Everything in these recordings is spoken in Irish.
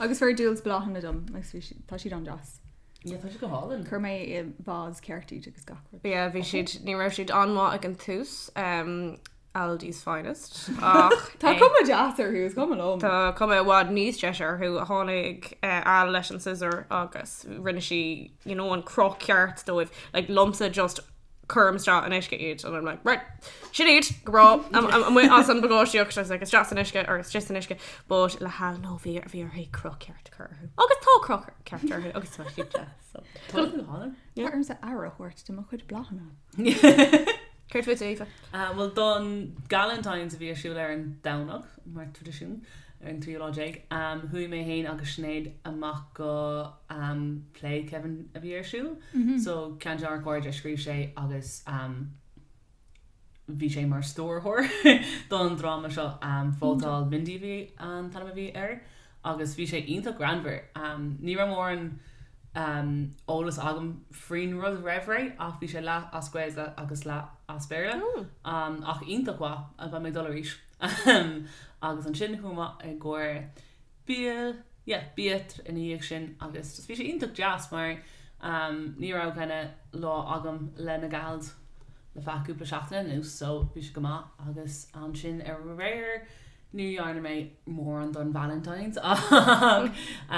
Agus fuair Jules bláthanna dom agus bhí siad- tá siad an-deas. Yeah, tá sé go hálainn. Chuir mé i vase ceart iad agus gach rud. Yeah, bhí siad, ní raibh siad an-mhaith ag an tús, em, Aldi's Finest, ach, Tá eh, cuma deas orthu, is cuma liom. tá cuma i bhfad níos deise orthu, ó tháinig, eh, Al leis an scissor agus rinne sí, you know, an cruth ceart dóibh, like, liomsa just cuirim isteach in uisce iad and I'm like right sin iad go raibh am- am- amuigh as an bpacáistíocht so I was like isteach san uisce or isteach san uisce but le hAl no bhí ar bhí uirthi cruth ceart cur orthu agus tá cruth ceart orthu agus tá siad deas so Tá go hálainn. Tá ormsa aire a thabhairt do mo chuid bláthanna. Céard fút Aoife? Ah bhuel don galentines a bhí ar siúl ar an Domhnach mar traidisiún ar an tríú lá déag ah chuaigh mé féin agus Sinéad amach go um play Kevin a bhí ar siúl so ceann de ár gcairde a scríobh sé agus um bhí sé mar stiúrthóir don dráma seo um Vótáil Mindy a bhí an t-ainm a bhí air agus bhí sé iontach greannmhar. Um ní raibh mórán um eolas agam faoin rud roimh ré ach bhí sé leath as Gaeilge agus leath as Béarla um ach iontach mhaith. Beidh mé ag dul arís. Um agus ansin chuamar i gcomhair bia, yeah, bia ina dhiaidh sin agus just bhí sé iontach deas mar ehm ní raibh kind of lá agam le na gals le feadh cúpla seachtaine anuas so bhí sé go maith agus ansin ar aréir ní dhearna mé mórán don Valentines ach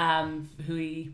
ehm chuaigh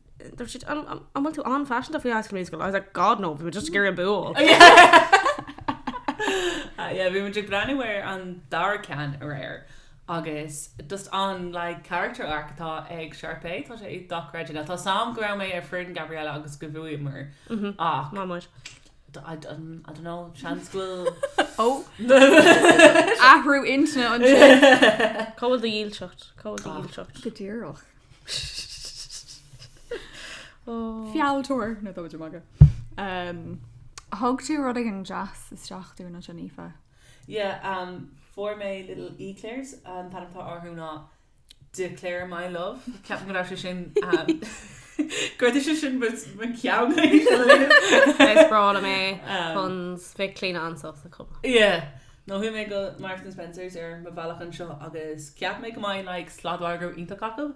Dúirt siad, an bhfuil tú an-phaiseanta faoi High School Musical? I was like, God no, bhí muid just ag iarraidh an bua. Yeah, bhí muid ag breathnú ar an dara ceann aréir agus just an like character arc atá ag Sharpay, tá sé dochreidte. Tá a fhios agam go raibh mé ar fhoireann Gabriella agus go bhuamar ach Maith muid. I don't know, seans go bhfuil Oh! Athrú intinne ansin. Cá bhfuil do dhílseacht? Cá bhfuil do dhílseacht? Go díreach. Fealltóir no táim ag magadh. Um, thug tú rud éigin deas isteach dúinn anseo, Aoife. Yeah, um, fuair mé little eclairs. An t-ainm atá orthu ná D'eclaire my love. Ceapaim go raibh sé sin, um, go raibh sé sin mo, mo cheann arís fhada linn. Is breá liom é. Um. Puns. Bheadh Clíona an-sásta chuma. Yeah. No chuaigh mé go Marks and Spencers ar mo bhealach anseo agus cheap mé go mbeadh like sladmhargadh iontach acu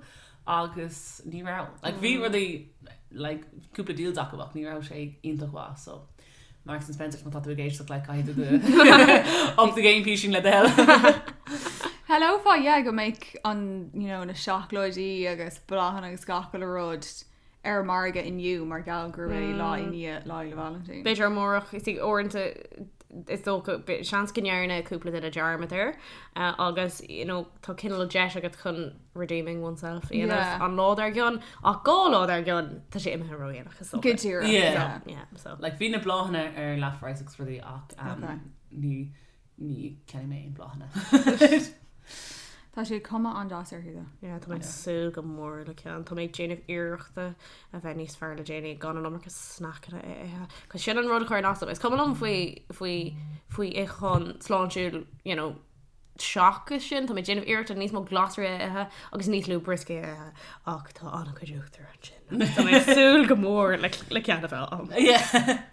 agus ní raibh. Like bhí rudaí like cúpla deals acu ach ní raibh sé iontach mhaith so Marks and Spencers má tá tú ag éisteacht like caithfidh tú do up the game píosín le do thoil. Shílfeá yeah go mbeadh an you know na seacláidí agus bláthanna agus gach uile rud ar margadh inniu mar gheall gurb é lá i ndiaidh Lá Fhéile Vailintín. B'fhéidir amárach, is í uaireanta is dócha tá seans go ndearna cúpla duine dearmad air agus you know tá cineál deis agat chun redeeming oneself a dhéanamh Yeah. an lá dár gcionn ach dhá lá dár gcionn tá sé imithe ródhéanach is dócha. Go díreach. Yeah. Yeah. Yeah, so. Like, bhí na bláthanna ar leath phraghas agus rudaí ach um, Okay. ní ní cheannaigh mé aon bláthanna. Tá sé cuma an-deas orthu though. Yeah, tá mé ag súil go mór le ceann. Tá mé ag déanamh iarrachta a bheith níos fearr le déanaí gan an iomarca snacanna a ithe. Cos sin an rud a chuireann as dom is cuma liom faoi faoi faoi itheachán sláintiúil you know seachas sin tá mé ag déanamh iarrachta níos mó glasraí a ithe agus níos lú brioscaí a ithe ach tá ana-chuid eachtraí ansin. Tá mé ag súil go mór le le ceann a bheith agam. Yeah.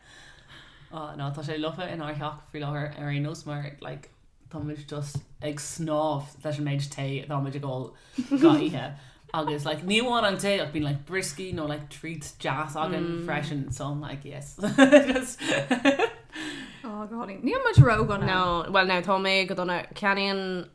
Ah no tá sé lofa inár theach faoi láthair ar aon nós mar like táimid just ag snámh leis an méid tae atáimid ag ól gach oíche agus like ní amháin an tae ach bíonn like brioscaí nó like treats deas againn freisin so I'm like yes just Oh go hálainn. Níl muid róghafa. No, bhuel now tá mé go dona. Ceannaím.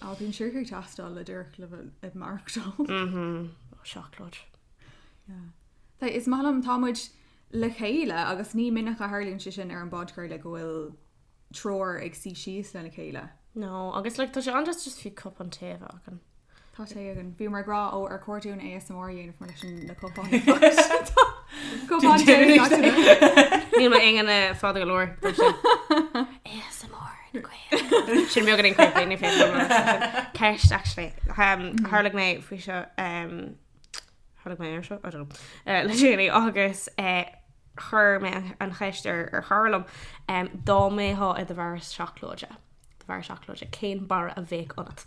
Á, bíonn siúcra ag teastáil díreach le bheith ag maireachtáil. Mhmm. Ó, seacláid. Sea, is maith liom, tá muid le chéile agus ní minic a tharlaíonn sé sin ar an bpodchraoladh go bhfuil triúr ag suí síos lena chéile. No, agus like tá sé an-deas just fiú cupán tae a bheith againn. Tá tae againn. Bhíomar ag rá, ó, ar chóir dúinn ASMR a dhéanamh mar leis na cupáin ag fás. Tá cupán tae ag gach duine. Níl m'ingne fada go leor, dúirt sé. ASMR. Ar na Gaeil. Sin beagán creepy, ní féidir. Ceist actually. Um, Tharla mé faoi seo um, tharla mé ar seo I don't know, uh, le déanaí agus uh, chuir mé an- an cheist ar, ar Cholm um, dá mbeifeá i do bharra seacláide, do bharra seacláide, cén barra a bheadh ionat?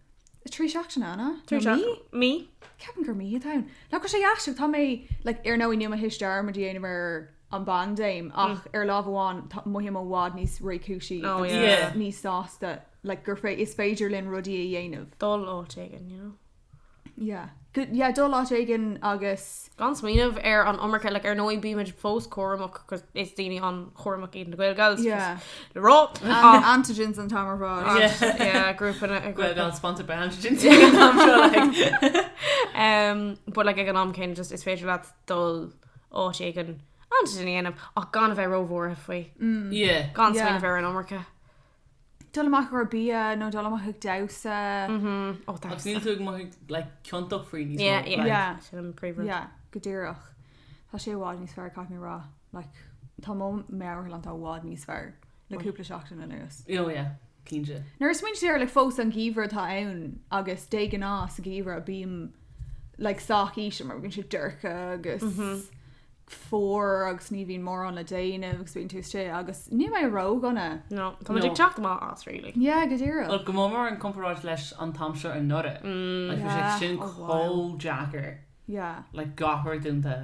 3 seachtaine, an ea? Trí Nó mí? seach- mí. Ceapaim gur mí atá ann. Nach bhfuil sé aisteach, tá mé, like, ar ndóigh nílim ag iarraidh dearmad a dhéanamh ar an bpaindéim ach ar láimh amháin tá, mothaím, i bhfad i bhfad níos réchúisí Oh, agus yeah. Yeah. níos sásta, like, gur fé- is féidir linn rudaí a dhéanamh. Dul áit éigin, you know. Yeah. Go- yeah, dul áit éigin agus. Gan smaoineamh air an iomarca, like, ar ndóigh bímid fós cúramach 'cause is daoine an-chúramach iad na Gaelgals, Yeah. just le rá. An- Ach- Antigens an t-am ar fad. Ach, Yeah. yeah, grúpanna- Well, grúpanna. gan sponsored by antigens ag an am seo, like. Em, but like ag an am céanna just is féidir leat dul áit éigin antigen a dhéanamh ach gan a bheith róbhuartha faoi. Yeah. Gan Yeah. smaoineamh air an iomarca. Dul amach i gcomhair bia nó dul amach ag damhsa. Ó, damhsa. Agus níl tú ag mothú like ciontach faoi níos mó yeah, yeah. Yeah. Like. Sin an príomhrud. Yeah, go díreach. Tá sé i bhfad níos fearr, caithfidh mé a rá. Like, tá mo meabhairshláinte i bhfad níos fearr le cúpla seachtain anuas. Oh yeah, cinnte. Nuair a smaoiním air like fós an geimhreadh atá ann agus de ghnáth sa gheimhreadh bím like sách íseal mar bhíonn sé dorcha agus fuar agus ní bhíonn mórán le déanamh agus bíonn tú istigh agus níl mé ródhona. No. Tá muid ag teacht amach as really. Yeah, go díreach. Well, go mór mór i gcomparáid leis an t-am seo anuraidh. Like, bhí sé Yeah, sin oh wow. chomh deacair. Yeah. Like, gach rud dúnta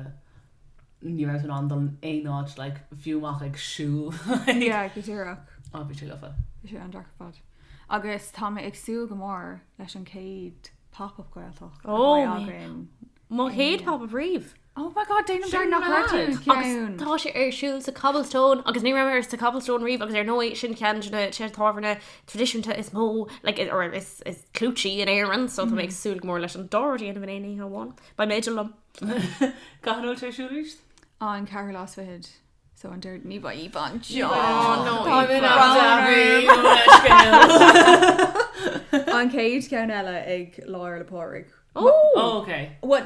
ní raibh tú in ann dul in aon áit, like, fiú amach ag siúl, like. Yeah, go díreach. Á, bhí sé lofa. Bhí sé an-deacair ar fad. Agus tá mé ag súil go mór leis an chéad Pop Up Gaeltacht a bheidh againn. Mo chéad Pop Up riamh! Oh my God, déanaim dearmad nach raibh tú ag ceann! Tá sé ar siúl sa Cobblestone agus ní raibh mé sa Cobblestone riamh agus ar ndóigh sin ceann de na tábhairní traidisiúnta is mó like or is clúití in Éirinn so tá mé ag súil go mór leis an dá rud a dhéanamh in aon oíche amháin. B'aoibhinn liom. Cá huair a bhfuil sé ar siúl arís? Á, an ceathrú lá is fichead so an deireadh ní bheidh Aoibheann anseo. Aw no Aoibheann! An chéad ceann eile ag Lá Fhéile Pádraig. Ooh! Oh ok. What?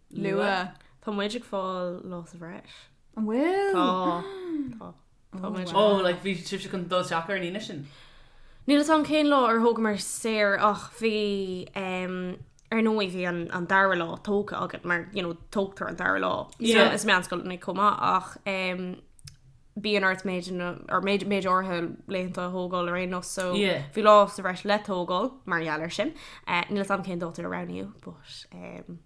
Luath. Tá muid ag fáil lá sa bhreis. An bhfuil? Tá. Tá. Tá muid. Ó, like bhí sibhse chun dul isteach ar an Aoine sin? Níl 'fhios a'm cén lá ar thógamar saor ach bhí, em, ar ndóigh bhí an, an dara lá tógtha agat mar, you know, tógtar an dara lá Yeah. sa, sna meánscoileanna chomh maith ach, em, bíonn ort méid na, or méid, méid áirithe laethanta a thógáil ar aon nós so Yeah. bhí lá sa bhreis le tógáil mar gheall air sin. Eh, níl 'fhios a'm cén dáta a roghnaíodh but, em,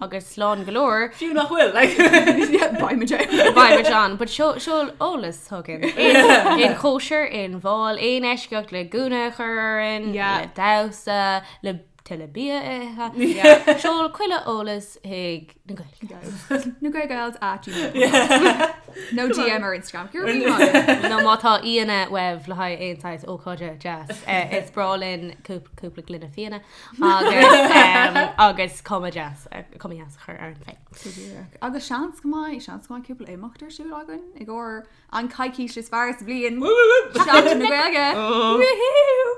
agus slán go leor. Fiú nach bhfuil, like, buy me John. Buy me John, but seol eolas chugainn. Aon chóisir, aon bhál, aon leithscéal le gúna a chur orainn, le damhsa, le, le bia a ithe, seol chuile eolas chuig na Gaeilgeals. Na Gaeilgeals at gmail.com. Nó DM ar Instagram. Go raibh míle maith. Nó má tá aíonna uaibh le haghaidh aon saghas ócáide deas, is breá linn cúpla gloine fíona. agus cuma deas a chur orainn féin. Go díreach. Agus seans go mbeidh, seans go mbeidh cúpla imeacht ar siúl againn i gcomhair an coicís is fearr sa bhliain, Seachtain na Gaeilge! Woohoo!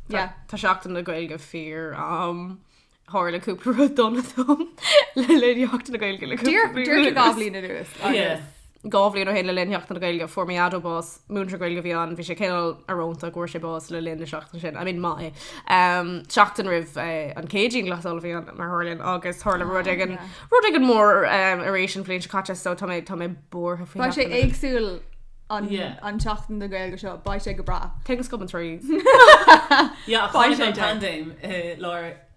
Yeah. Tá Seachtain na Gaeilge fíor-ait. Tharla cúpla rud dona dom le linn Sheachtain na Gaeilge le cúpla bliain anuas. Díreach dhá bhliain anuas. Yeah. Dhá bhliain ó shin, le linn Sheachtain na Gaeilge, fuair mo dhaideo bás. Múinteoir Gaeilge a bhí ann. Bhí sé cineál arónta go bhfuair sé bás le linn na seachtaine sin. I mean, maith é. Seachtain roimh an Céadaoin, glasáil a bhí ann, mar tharlaíonn, agus tharla rud éigin, rud éigin mór arís an bhliain seo caite, so tá mé, tá mé buartha faoi Sheachtain na Gaeilge. Beidh sé éagsúil an, an tSeachtain na Gaeilge seo. Beidh sé go breá. Tiocfaidh sí ar ais. Yeah, ach tháinig an paindéim i lár.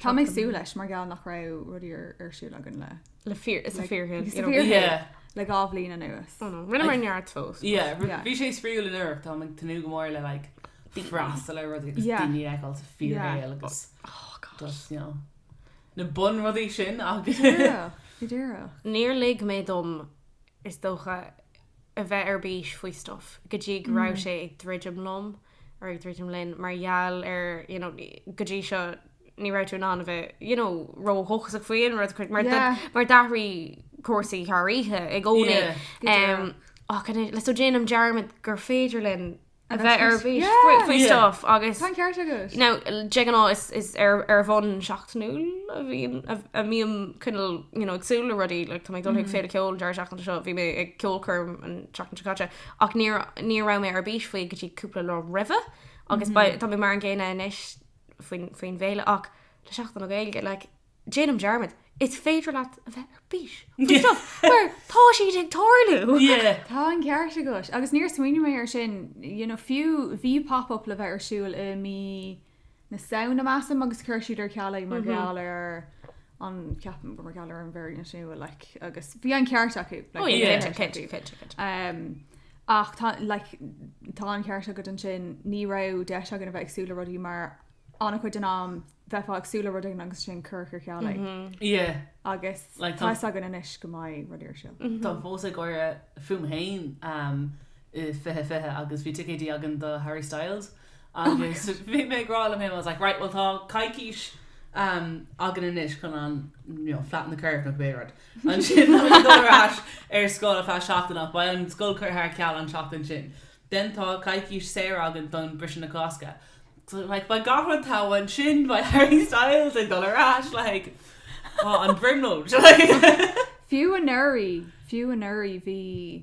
Tá mé súil leis mar gheall nach raibh rudaí ar siúl againn le le fear is a fearthain is a fearthain le dhá bhliain anuas. Rinneamar neart fós. Bhí sé spraíúil in áiteanna táimid ag tnúth go mór le like freastal ar rudaí agus daoine a fheiceáil sa fíorshaol agus just you know na bun rudaí sin Go díreach. Níor lig mé dom is dócha a bheith ar bís faoi stuff go dtí go raibh sé ag druidim liom ag druidim linn mar gheall ar, you know, go dtí seo ní raibh tú in ann a bheith, you know, ródhóchasach faoi aon rud a cuid mar do- Yeah. mar d'athraigh cúrsaí thar oíche i gcónaí. Yeah, go deo. Em, ach innis- le so déanaim dearmad gur féidir linn a bheith ar bís Yeah. faoi- faoi Yeah. stuff agus Tá an ceart agat. now, de ghnáth is- is ar- ar bhonn seachtainiúil a bhíonn, a- a mbím cineál, you know, ag súil le rudaí, like tá mé ag dul chuig Féile Ceoil an deireadh seachtaine seo, bhí mé ag ceolchoirm an tseachtain seo caite. Ach ní, ní raibh mé ar bís faoi go dtí cúpla lá roimhe, agus ba, tá mé mar an gcéanna anois faoin, faoin bhféile, ach le Seachtain na Gaeilge, like, déanaim dearmad, is féidir leat a bheith ar bís faoi stuff mar tá siad ag tarlú! Yeah. Tá an ceart agat. Agus níor smaoinigh mé air sin, you know, fiú, bhí Pop Up le bheith ar siúl i mí na Samhna, measaim, agus chuir siad ar ceal é mar gheall ar an, ceapaim, mar gheall ar an variant nua, like, agus bhí an ceart acu, like, bhí an ceart acu. Cinnte, cinnte, cinnte. Umm, ach tá, like, tá an ceart agat ansin, ní raibh deis againn a bheith ag súil le rudaí mar an-chuid den am bheifeá ag súil le rud éigin agus ansin curtar ar ceal é. Agus Like, tá- tá fhios againn anois go mbeidh rudaí ar siúl. Táim fós ag gáire fúm féin, umm, i 2020 agus bhí ticéidí againn do Harry Styles, Agus bhí mé ag rá liom fhéin, I was like, right, bhuel tá coicís againn anois chun an, you know, flatten the curve nó cibé rud. Ansin tá muid ag dul ar ais ar scoil ar feadh seachtain ach beidh an scoil curtha ar ceal an tseachtain sin. Then tá coicís saor againn don briseadh na Cásca. So like beidh gach rud togha ansin, beidh Harry Styles ag dul ar ais like an bhrionglóid. Fiú anuraidh, fiú anuraidh bhí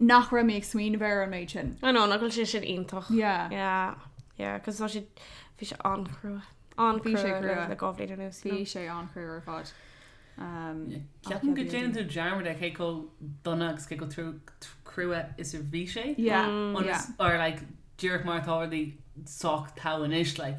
nach raibh muid ag smaoineamh air an méid sin. I know, nach bhfuil sé sin iontach. Yeah. Yeah, yeah, 'cause tá siad, bhí sé an-chrua. Bhí sé An-chrua le dhá bhliain anuas, you Bhí know. sé an-chrua ar fad. Um, ach Ceapaim yeah, go ndéanann tú dearmad ar cé chomh dona agus cé chomh trua, tr- crua is a bhí sé. Yeah, yeah. or like díreach mar atá rudaí sách togha anois, like.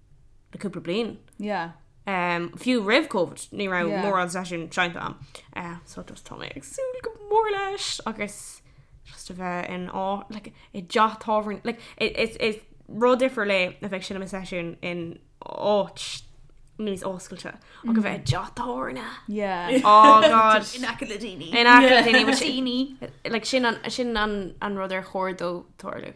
le cúpla bliain. Yeah. Um, fiú roimh COVID, ní raibh, yeah, mórán seisiún seinnte agam. Uh, so just tá mé ag súil go mór leis agus just a bheith in á, like, i dteach tábhairne, like, it, it's, it's rud difriúil a bheith ag seinm seisiún in áit níos oscailte, mm. agus bheith i dteach tábhairne. Yeah. Oh god. in aice le daoine. In aice le daoine, but daoine. Like sin an, sin an, an rud ar chóir dó tarlú.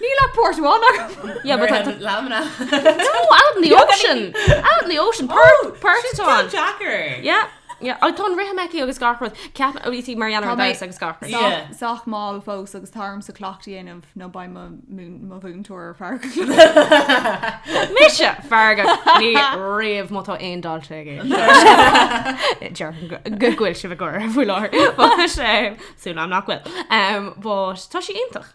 Ní le port amháin agam. Yeah, but that... Lamina. No, out in the ocean. Out in the ocean. Port, port amháin. Jacker. Yeah. Yeah, ach tá an rithim aici agus gach rud. Ceap a bhítí mar dhéanamh agus agus gach rud. Yeah. Sách mall fós agus tá orm sa cleachtadh a dhéanamh nó beidh mo mo mhúinteoir ar fearg. Mise fearga ní riamh má tá aon daltaí aici. Déarfaidh go bhfuil sí, go bhfuil, lads. But tá a fhios agam nach bhfuil. Um, but tá sí iontach.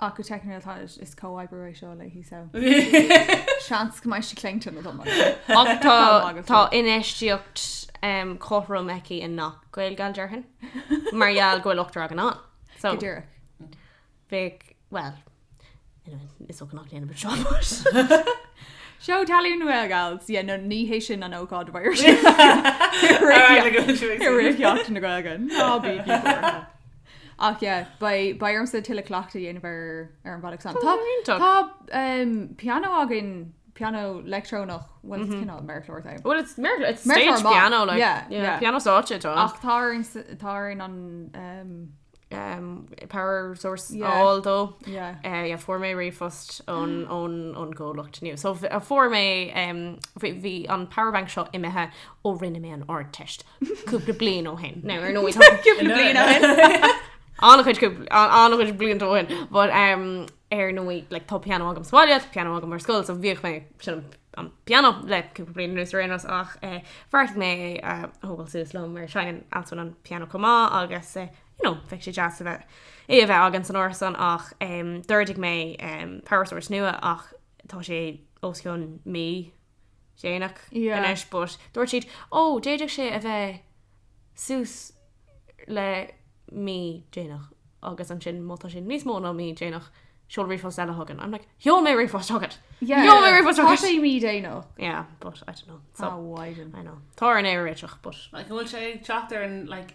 Ach go teicniúil tá sé is comhoibriú é seo léi so seans go mbeidh sí cleite nó dá mbeidh. Ach tá tá infheistíocht cothrom aici i ngach Gaeilgeoir déarfainn mar gheall go bhfuil ochtar againn ann. So Go díreach. bheadh, bhuel, anyway is dócha nach ndéanfaidh muid seo but. Seó tallann na Gaeilge agus yeah no ní hé sin an ócáid a bheidh ar siúl i rith Sheachtain na Gaeilge, ná bígí buartha. Ach yeah, beidh ormsa tuilleadh cleachtadh a dhéanamh ar an bhealach san. Tá, tá pianó againn, pianó leictreonach, bhuel is cineál méarchlár atá ann. Bhuel it's méarchlár, it's stage piano like. Yeah, yeah. Pianó stáitse atá ann. Ach tá orm, tá orm an power source a fháil dó. Yeah. Yeah, fuair mé ríomhphost ón, ón, ón gcomhlacht inniu. So fuair mé, bhí an power source seo imithe ó rinne mé an Ardteist. cúpla bliain ó shin. No, ar ndóigh cúpla bliain ó shin. An-chuid an-chuid blianta ó shin, but um, ar ndóigh like, tá piano agam sa mbaile, piano agam ar scoil, so bhíodh mé ag seinm an piano le cúpla bliain anuas right enough ach eh, bheartaigh mé é a thógáil suas liom mar seinneann Alswyn an piano chomh maith agus eh, you know, bheadh sé deas a bheith é a bheith againn san árasán ach um, d'ordaigh mé um, power source nua ach tá sé os cionn mí déanach anois but dúirt siad oh d'fhéadfadh sé a bheith suas le mí déanach agus ansin má tá sé níos mó ná mí déanach seol ríomhphost eile chugainn I'm like sheol mé ríomhphost chugat yeah sheol mé ríomhphost chugat tá sé mí déanach yeah but I don't know so oh why didn't I know tá orm é a réiteach but like bhfuil sé ag teacht ar an like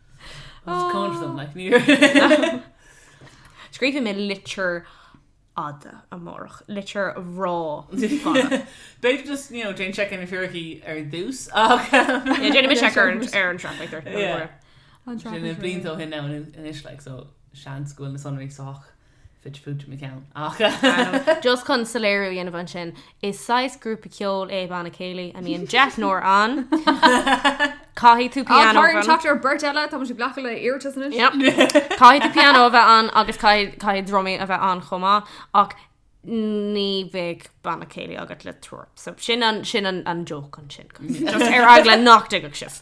Scríobhfaidh mé litir fhada amárach. Litir bhreá fada. B'fhéidir just, you know, déan seic ar na fíricí ar dtús ach Yeah, déanfaidh mé seic ar an ar an traffic. Yeah. An traffic. Sin blianta ó shin now anois like so seans go bhfuil na sonraí sách. Fid fút i mo cheann, ach anam. Just chun soiléiriú a dhéanamh ansin, is saghas grúpa ceoil é Banna Céilí a mbíonn deichniúr ann. Caithfidh tú pianó a bheith ann. Á, tá orainn teacht ar bheirt eile, táimid ag glacadh le hiarratais anois. Yep. Caithfidh tú pianó a bheith ann agus caithfidh, caithfidh drumaí a bheith ann chomh maith, ach ní bheidh Banna Céilí agat le tuba. So, sin an, sin an, an joke ansin. Just ar eagla nach dtuigfeadh sibh.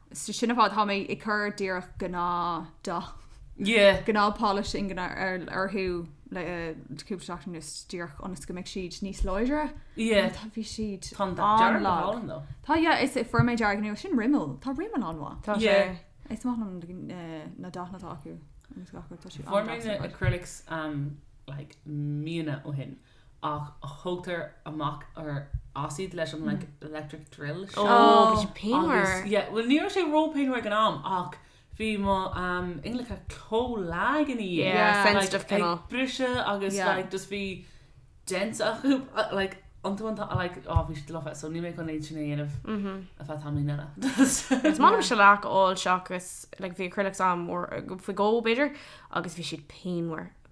Sea, sin ar fad. Tá mé ag cur díreach gnáth dath, gnáth polish ingne orthu le cúpla seachtain anuas díreach ionas go mbeidh siad níos láidre. Tá, bhí siad an-lag. Tá, yeah, is fuair mé dearg nua. Sin Rimmel. Tá Rimmel an-mhaith. Tá sé. Is maith liom na dathanna atá acu. Fuair mé na acrylics like míonna ó shin. ach thóg tú amach nó as iad leis an electric drill seo. Ó, bhí sé pianmhar. Agus, yeah, bhuel, ní raibh sé ró-pianmhar ag an am, ach bhí mo ingneacha chomh lag ina dhiaidh. Yeah, sensitive cineál. Like, ag briseadh agus, like, just bhí dents acu, like, iontu an t-am, like, oh, bhí siad lofa, so níl mé chun iad sin a dhéanamh ar feadh tamaillín eile. Is maith liom shellac a fháil seachas, like, bhí acrylics agam uair nó faoi dhó, b'fhéidir, agus bhí siad pianmhar.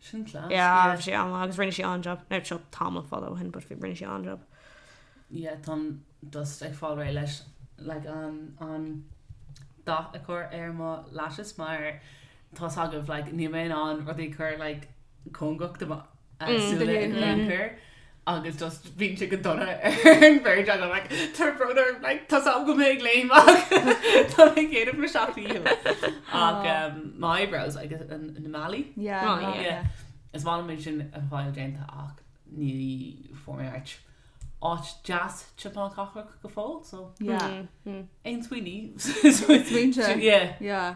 Sin class. Yeah, bhí sé an-lách agus rinne sí an-job. Now, seo tamall fada ó shin, but bhí- rinne sí an-job. Yeah, táim just ag fáil réidh le. Like an an dath a chur ar mo lashes mar tá a fhios agaibh like níl mé in ann rudaí a chur like cóngarach do mo súile in aon chor. agus just bíonn sé go dona ar an bhfear, don't like to bother, like tá a fhios agam go mbeidh mé ag léimneach tá mé ag déanamh mo seacht ndícheall ach umm my eyebrows agus na, na malaí? Yeah, malaí, yeah, yeah. Is maith liom é sin a fháil déanta ach ní bhfuair mé áit áit deas timpeall na cathrach go fóill so Yeah, aon smaointe, smaointe, smaointe, yeah, yeah.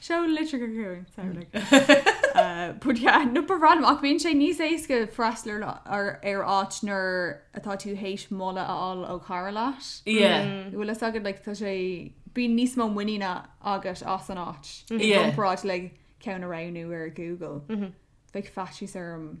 Seol litreacha chugainn, samhlaigh. But yeah, no but random, ach bíonn sé níos éasca freastal ar ar áit nuair atá tú théis moladh a fháil ó chara leat. Yeah. An bhfuil a fhios agat, like tá sé, bíonn níos mó muiníne agat as an áit i Yeah. gcomparáid le ceann a roghnú ar Google. Bheadh faitíos orm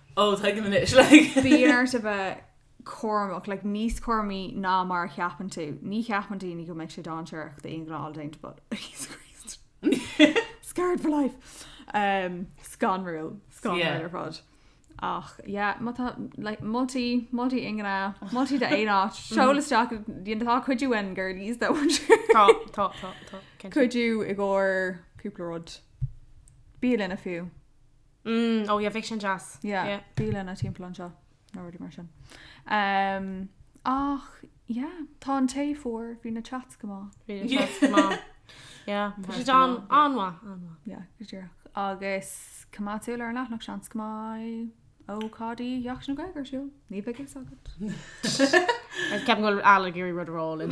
Oh, tuigim anois, like. Bíonn ort a bheith cúramach, like, níos cúramaí ná mar a cheapann tú. Ní cheapann daoine go mbeidh sé dáinséarach d'ingne a fháil déanta, but Jesus Christ. Scarred for life. Um, scanrúil. Scanrúil Yeah. ar fad. Ach, yeah, má tá, like, moltaí, moltaí ingne, moltaí d'aon áit, seol isteach, you know, tá cuidiú uainn, girlies, nach bhfuil? Tá, tá, tá, tá. Cinnte. Cuidiú i gcomhair cúpla rud. Bialanna fiú. Mm oh yeah bheadh sin deas. Yeah yeah. Bialanna timpeall anseo nó rudaí mar sin. Umm ach yeah tá an tae fuar, bhí na chats go maith. Bhí na chats go maith. Yeah tá siad an- an-mhaith an-mhaith. Yeah go díreach. Agus coimeád súil ar an leathanach seans go maith go mbeidh Deoch na Gaeilge ar siúl. Ní bheidh a fhios agat. Ceapaim go bhfuil Alan ag iarraidh rud a rá linn.